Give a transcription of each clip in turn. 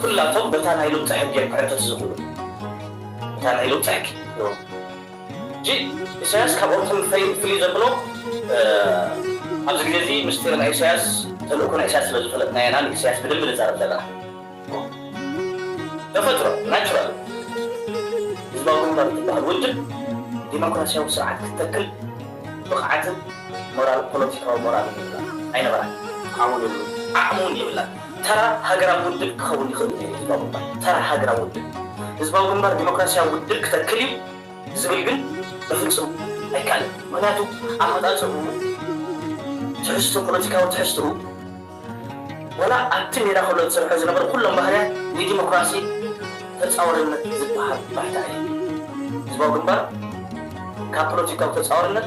ኩላቶም በታ ናይ ሉቕጢ ሕጊ እዮም ክዕንተቱ ዝኽእሉ እታ ናይ ሉቕጢ ሕጊ ሕጂ ኢሳያስ ካብኦም ፍልይ ፍልይ ዘብሎ ኣብዚ ግዜ እዚ ምስጢር ናይ ኢሳያስ ተልእኮ ናይ ኢሳያስ ስለ ዝፈለጥናዮ ኢና ንኢሳያስ ብደንቢ ንዛረብ ዘለና ተፈጥሮ ናቹራል ህዝባዊ ግንባር ዝበሃል ውድብ ዲሞክራሲያዊ ስርዓት ክተክል ብቕዓትን ሞራል ፖለቲካዊ ሞራልን የብላን ኣይነበራን ዓቕሙን የብሉን ዓቕሙን የብላን ተራ ሃገራዊ ውድብ ክኸውን ይኽእል እዩ ህዝባዊ ግንባር። ተራ ሃገራዊ ውድብ። ህዝባዊ ግንባር ዲሞክራሲያዊ ውድብ ክተክል እዩ ዝብል ግን በፍጹም ኣይከኣልን። ምኽንያቱ ኣመጻጽእኡ፣ ትሕዝቶ ፖለቲካዊ ትሕዝትኡ፣ ዋላ ኣብቲ ሜዳ ከሎ ዝሰርሖ ዝነበረ ኩሎም ባህርያት ንዲሞክራሲ ተጻዋርነት ዝበሃል ባሕታ ኣይህብን። ህዝባዊ ግንባር ካብ ፖለቲካዊ ተጻዋርነት።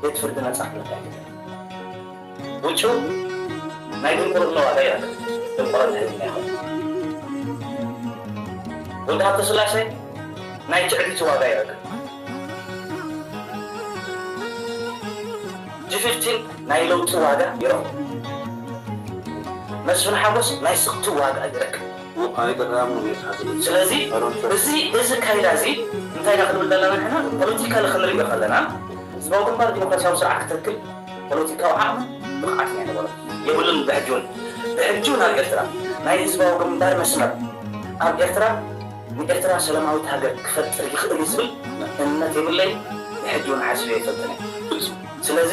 ቤት ፍርዲ ነጻ ክብል ኣይክእልን። ውጩ ናይ ድንቁርና ዋጋ የብሉን። ድንቁርና ህልና ኣይኮነን። ወዲ ሃብተስላሴ ናይ ትዕቢቱ ዋጋ የብሉን። ጂፊፍቲን ናይ ለውጢ ዋጋ ይረኽቡ። መስፍን ሓጎስ ናይ ስኽፍቲ ዋጋ ይረክብ። ስለዚ እዚ እዚ ኣካይዳ እዚ እንታይ ኢና ክንብል ዘለና ንሕና ፖለቲካሊ ክንሪኦ ከለና ህዝባዊ ግንባር ዲሞክራሲያዊ ስርዓት ክተክል ፖለቲካዊ ዓቕምን ብቕዓትን ኣይነበሮን የብሉን ብሕጂ ውን ብሕጂ ውን ኣብ ኤርትራ ናይ ህዝባዊ ግንባር መስመር ኣብ ኤርትራ ንኤርትራ ሰላማዊት ሃገር ክፈጥር ይኽእል እዩ ዝብል እምነት የብለይን ብሕጂ ውን ሓሲበ ኣይፈልጥን እየ ስለዚ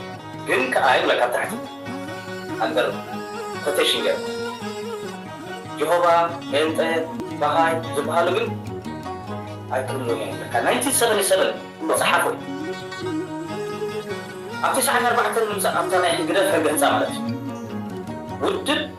ግን ከኣ ይብለካ ኣብ ታሕቲ ኣንደር ኮተሽን ገይሩ ጆሆባ ጴንጠ ባሃይ ዝባሃሉ ግን ኣይክህልውን እዮም ይብለካ ናይንቲን ሰቨንን ሰቨን ዝጸሓፎ እዩ ኣብ ትሽዓን ኣርባዕተን ምምጻእ ኣብታ ናይ ህግደፍ ሕገ ህንጻ ማለት እዩ ውድብ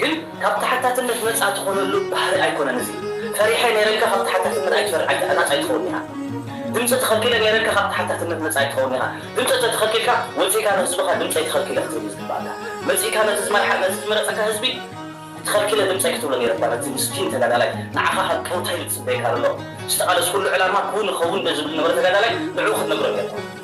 ግን ካብ ተሓታትነት ነጻ ትኾነሉ ባህሪ ኣይኮነን እዚ ፈሪሐ ነይረልካ ካብ ተሓታትነት ኣይትፈር ኣይ ናጻ ኣይትኸውን ኢኻ ድምጺ ተኸልኪለ ነይረልካ ካብ ተሓታትነት ነጻ ኣይትኸውን ኢኻ ድምጺ እንተ ተኸልኪልካ ወጺእካ ንህዝብኻ ድምጸይ ተኸልኪለ ክትብል ዝግባኣካ መጺእካ ነቲ ዝመርሓ ነቲ ዝመረጸካ ህዝቢ ተኸልኪለ ድምጸይ ክትብሎ ነይረካ ነቲ ምስኪን ተጋዳላይ ንዓኻ ካብ ጦንታይ እዩ ዝጽበየካ ዘሎ ዝተቓለስኩሉ ዕላማ ክውን ይኸውን ዶ ዝብል ዝነበረ ተጋዳላይ ንዕኡ ክትነግሮ ነይርካ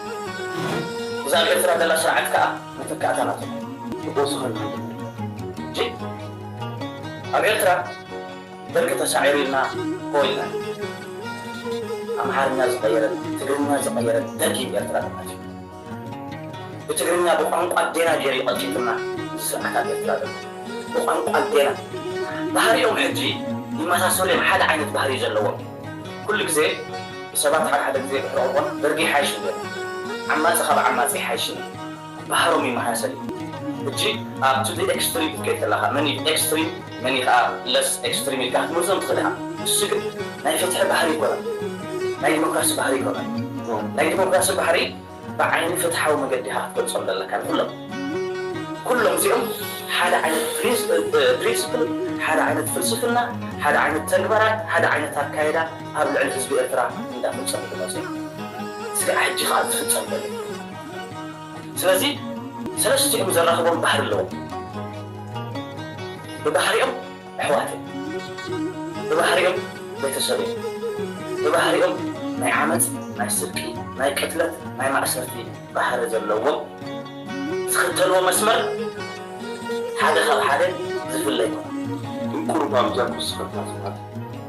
እዛ ኣብ ኤርትራ ዘላ ስርዓት ከኣ መተካእታ ናቶም ክጎስኹ ንርኢ ጅእ ኣብ ኤርትራ ደርጊ ተሳዒሩ ኢልና ሆ ኢልና ኣምሓርኛ ዝቀየረት ትግርኛ ዝቀየረት ደርጊ ብ ኤርትራ ተቃቲሉ ብትግርኛ ብቋንቋ ኣዴና ጌሩ ዩ ቀቲሉና እዚ ስርዓት ኣብ ኤርትራ ዘሎ ብቋንቋ ኣዴና ባህሪኦም ሕጂ ይመሳሰሉ ዮም ሓደ ዓይነት ባህሪ ዩ ዘለዎም ኩሉ ግዜ ሰባት ሓድሓደ ግዜ ብሕርቕቦን ደርጊ ይሓይሽ እንድዮም ዓማጺ ካብ ዓማጺ ኣይሓይሽን እዩ ብሃሮም እዩ መሃሰል እዩ ሕጂ ኣብ to the extreme ክትከይድ ከለኻ መን እዩ extreme መን እዩ ከኣ less extreme ኢልካ ክትመርዞም ትኽእል ኢኻ ንሱ ግን ናይ ፍትሒ ባህሪ ኣይኮነን ናይ ዲሞክራሲ ባህሪ ኣይኮነን ናይ ዲሞክራሲ ባህሪ ብዓይኒ ፍትሓዊ መገዲ ኢኻ ክትገልጾም ዘለካ ንኹሎም። ኩሎም እዚኦም ሓደ ዓይነት ፕሪንስፕል፣ ሓደ ዓይነት ፍልስፍና፣ ሓደ ዓይነት ተግባራት፣ ሓደ ዓይነት ኣካይዳ ኣብ ልዕሊ ህዝቢ ኤርትራ እንዳፈጸሙ ዝመጹ ኢዮም። ስጋዕ ሕጂ ከኣ ዝፍጸም ዘሎ ኢዩ። ስለዚ ሰለስቲኦም ዘራኽቦም ባህሪ ኣለዎም። ብባህሪኦም። ኣሕዋት እዮም ብባህሪኦም ቤተሰብ እዮም ብባህሪኦም ናይ ዓመጽ ናይ ስርቂ ናይ ቅትለት ናይ ማእሰርቲ ባህሪ ዘለዎም ዝኽተልዎ መስመር ሓደ ካብ ሓደ ዝፍለ ኣይኮነን። እንቁርባብ ጃኩስ ፈታትታት።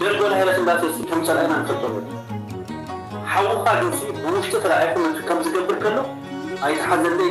ደርጎ ላይነት እንዳተሱ ከም ጸላኢና ንፈልጦ ነሩ ሓውኻ ጆሲ ብውሽጢ ተላኢኹ ነቲ ከምዚ ገብር ከሎ ኣይትሓዘለይ